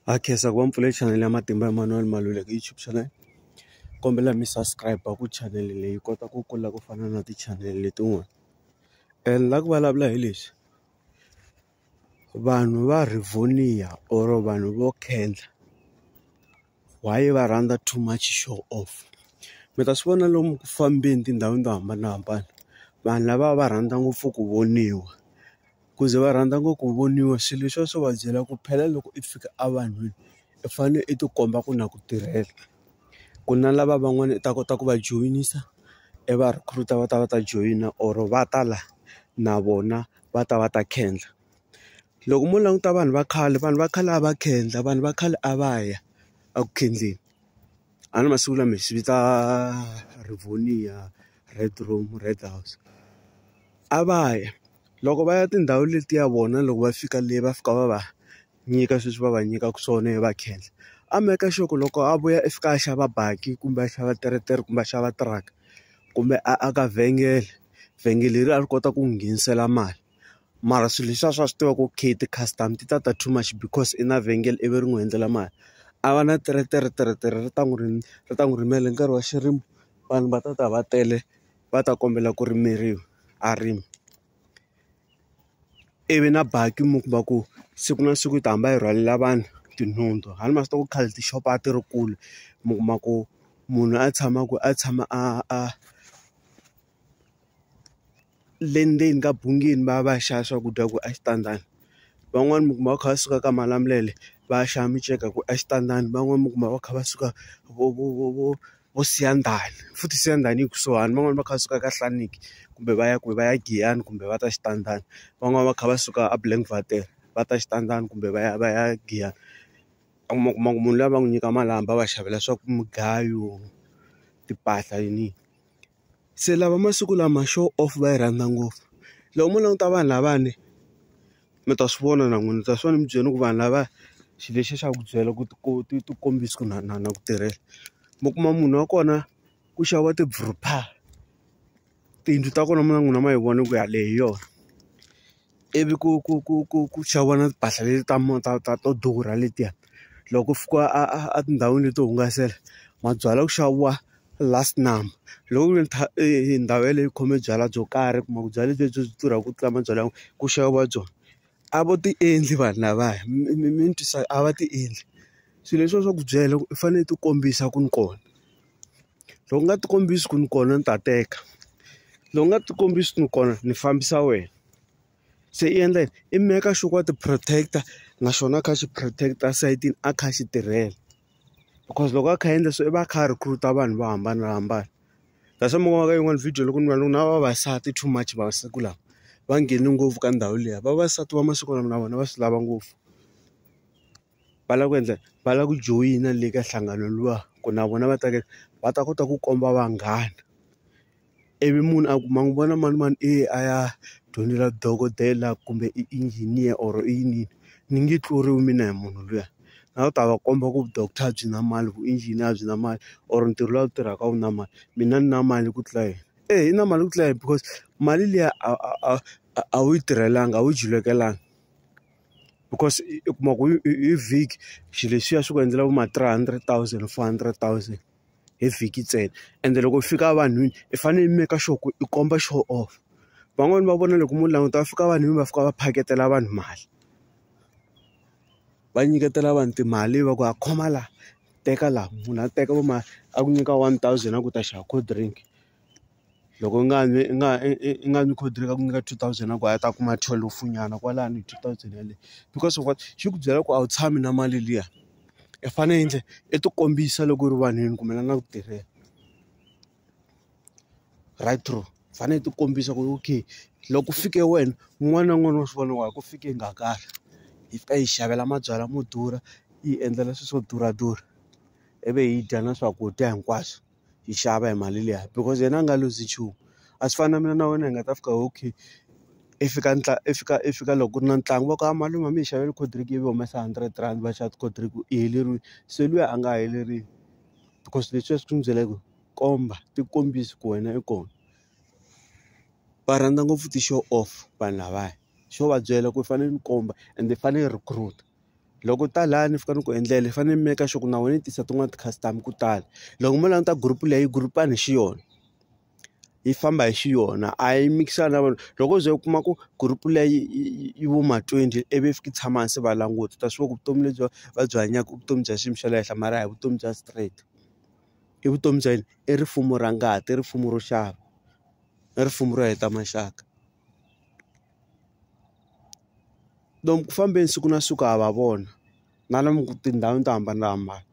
Ha khensa ku va mi pfule chanele ya Matimba Emmanuel Maluleke YouTube channel kombela mi subscribe ku channel leyi yi kota ku kula ku fana na ti-channel letin'wana and la ku vulavula hi leswi vanhu va Rivonia or vanhu vo khendla. Why va rhandza too much show off mi ta swi vona lomu ku fambeni tindhawini to hambanahambana vanhu lava va rhandza ngopfu ku voniwa ku ze va rhandza ngopfu ku voniwa swilo leswiya swo va byela ku phela loko i fika a vanhwini i fanele i tikomba ku na ku tirhela ku na lava van'wani i ta kota ku va joyinisa i va recruit-a va ta va ta joyina or va ta la na vona va ta va ta khendla. Loko mo languta vanhu va khale vanhu va khale a va khendla vanhu va khale a va ya eku khendleni a ni masiku lama hi swi vita rivonia red room red house a va ya loko va ya tindhawu letiya vona loko va fika le va fika va va nyika sweswi va va nyikaka swona va khendla a make sure ku loko a vuya i fika a xava baki kumbe a xava teretere kumbe a xava tiraka kumbe a aka vhengele vhengele leri a ri kota ku n'wi nghenisela mali. mara swilo leswiya swa swi tiva ku okay ti-customer ti ta ta too much because i na vhengele ivi ri n'wi hundzela mali a va na teretere teretere ri ta n'wi ri ri ta n'wi rhumela hi nkarhi wa xirimo vanhu va ta ta va tele va ta kombela ku rimeriwa a rima ivi na baki mi kuma ku siku na siku yi ta hamba yi rhwalela vanhu tinhundzu hala ma swi tiva ku khale tixopo a ti ri kule mi kuma ku munhu a tshama ku a tshama a a le ndzeni ka bungini va ya va ya xava swakudya ku exitandini van'wani mi kuma va kha va suka ka malamulele va ya xava minceka ku exitandini van'wani mi kuma va kha va suka vo vo vo vo vo siyandhani futhi siyandhani yi kusuhani van'wani va kha va suka ka hlaniki kumbe va ya kwihi va ya giyani kumbe va ta xitandani van'wani va kha va suka a blankwater va ta xitandani kumbe va ya va ya giyani u ma kuma ku munhu luya va n'wi nyika malamba va xavela swa ku mugayo timpahla yini yini. Se lava masiku lama show off va yi rhandza ngopfu. Loko mo languta vanhu lavawani, mi ta swi vona na n'wina. Mi ta swi vona ni byele ku vanhu lava xilo lexi xa ku byela ku ku ti ti kombisa ku na na na ku tirhela. Mi kuma munhu wa kona ku xaviwa ti-brupha, tiyindlu ta kona mi nga n'wina ma yi vona ku yaleyo hi yona. ivi ku ku ku ku ku xaviwa na timpahla leti ta ta ta to durha letiya. Loko ku fika a a a tindhawini leti to hungasela, mabyalwa ku xaviwa last number. Loko ku ri ndhawu yeleyo yi khome byalwa byo karhi u kuma ku byalwa lebyi byi durhaka ku tlula mabyalwa yan'wana, ku xaviwa byona. A va ti endli vanhu lavaya mi ni twisaka a va ti endli. Swilo leswiya swa ku byela ku u fanele u ti kombisa ku ni kona. Loko u nga ti kombisi ku ni kona ni ta teka, loko u nga ti kombisi ku ni kona ni fambisa wena. Se i endla yini? I make sure ku wa ti protect-a na xona a kha a xi protect-a esayitini a kha a xi tirhela. Because loko a kha a endla sweswo i va a kha a recruit-a vanhu vo hambanahambana. That's why mi vonaka yin'wana video loko ni vona na vavasati too much masiku lawa, va nghene ngopfu ka ndhawu liya. Vavasati va masiku lama na vona va swi lava ngopfu. va lava ku endla va lava ku joyina le ka nhlangano luwa ku na vona va ta ka va ta kota ku komba vanghana ivi munhu a ku ma n'wi vona manimani i ye a ya dyondzela dokodela kumbe i engineer or i yini ni nge tluriwi mina hi munhu luya a wu ta va komba ku doctor byi na mali vu engineer a byi na mali or ntirho lowu tirhaka a wu na mali mina ni na mali ku tlula yena eyi i na mali ku tlula yena because mali liya a a a a wu yi tirhelanga a wu yi julelekanga. because u kuma ku hi vhiki xilo lexiya xi ku endlela vo ma three hundred thousand four hundred thousand hi vhiki ntsena ende loko u fika evanhwini i fanele i make sure ku i komba show off van'wani va vona loko mo languta va fika vanhwini va fika va phaketela vanhu mali va nyiketela vanhu timali va ku ha khoma la teka la munhu a teka vo ma a ku nyika one thousand a ku ta xava cold drink. loko i nga i nga i nga n'wi khodelela ku ku nyika two thousand a ku a ta kuma thwelufu nyana kwalano two thousand yeleyo because of what xi ku byela ku a wu tshami na mali liya i fane i endle i ti kombisa loko u ri vanhwini kumbe la na ku tirhela right true u fane i ti kombisa ku okay loko ku fike wena un'wana na un'wana wa swi vona wa ku fike hi nga karhi hi fika hi xavela mabyalwa mo durha yi endlela swilo swo durha durha ivi hi dya na swakudya hinkwaswo. yi xava hi mali liya because yena a nga lose nchumu a swi fani na mina na wena hi nga ta fika okay i fika i fika i fika loko ku ri na ntlangu va ku a malume a mi hi xavela coldrink ivi u humesa hundred rand va xava ti-coldrink i heleriwe se luya a nga heleriwi because leswi a swi n'wi byela ku komba ti kombisa ku wena i kona va rhandza ngopfu ti-show off vanhu lavaya xo va byela ku i fanele ni komba ende i fanele i recruit. loko u ta laya ni fika ni ku endlela ni fanele ni make sure ku na wena ni tisa tin'wani ti customer ku tala loko mo languta group leyi group a ni xi yona yi famba hi xi yona a yi mikisani na vanhu loko u ze u kuma ku group leyi yi vo ma twenty i vi fiki tshama hansi va languta u ta swi tiva ku vutomi lebyi va byi hanyaka i vutomi bya xiyimo xa le henhla mara a hi vutomi bya straight i vutomi bya yini i rifumo ra ngati i rifumo ro xava i rifumo ro heta maxaka. lomu ku fambeni siku na siku ha va vona na lomu tindhawini to hambanahambana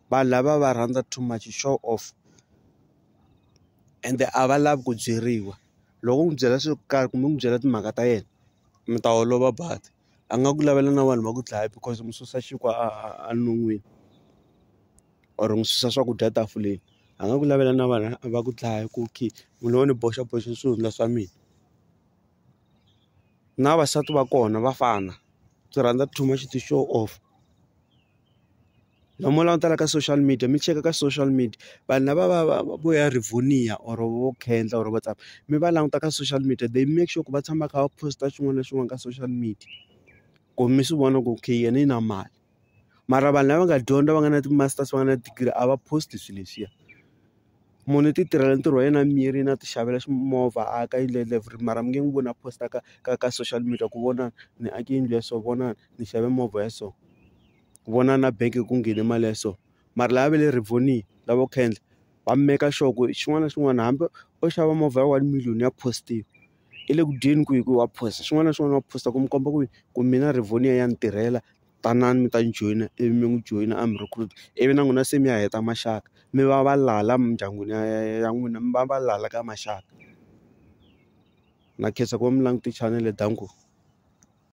vanhu lava va rhandza too much show off ende a va lavi ku byeriwa loko u n'wi byela swo karhi kumbe u n'wi byela timhaka ta yena mi ta holova but a nga ku lavela na vanhu va ku dlaya because u n'wi susa xinkwa a a non'wini or u n'wi susa swakudya tafuleni a nga ku lavela na vanhu va ku dlaya ku okay munhu wo ni boxa boxa swihundla swa mina. na vavasati va kona va fana byi rhandza too much to show off la mo langutela ka social media mi cheka ka social media vanhu lava va va vo ya Rivonia or vo khendla or vo tsaka mi va languta ka social media they make sure ku va tshama kha va post xin'wana na xin'wana ka social media ku mi swi vona ku okay yena i na mali. mara vanhu lava nga dyondza va nga na ti-masters va nga na degree a va post swilo leswiya munhu u ti tirhela ntirho wa yena a miyerile a ti xavela ximovha a aka yindlu ya level three mara mi nge n'wi voni a post-a ka ka ka social media ku vona ni ake yindlu ya so vona ni xave movha ya so ku vona na bank ku nghene mali ya so mara lava va le rivonia lavo khendla va maker sure ku xin'wana na xin'wana hambi o xava movha ya one million ya post-iwa. i le ku dyeni kwihi ku wa phosa xin'wana na xin'wana wa phosa ku mi komba ku ku mina Rivonia ya ni tirhela tanani mi ta ni joyina ivi mi n'wi joyina a mi recruit ivi na n'wina se mi ya heta maxaka mi va valala la mindyangwini ya ya ya n'wina mi va valala ka maxaka na khensa ku va mi langute chanele dankie.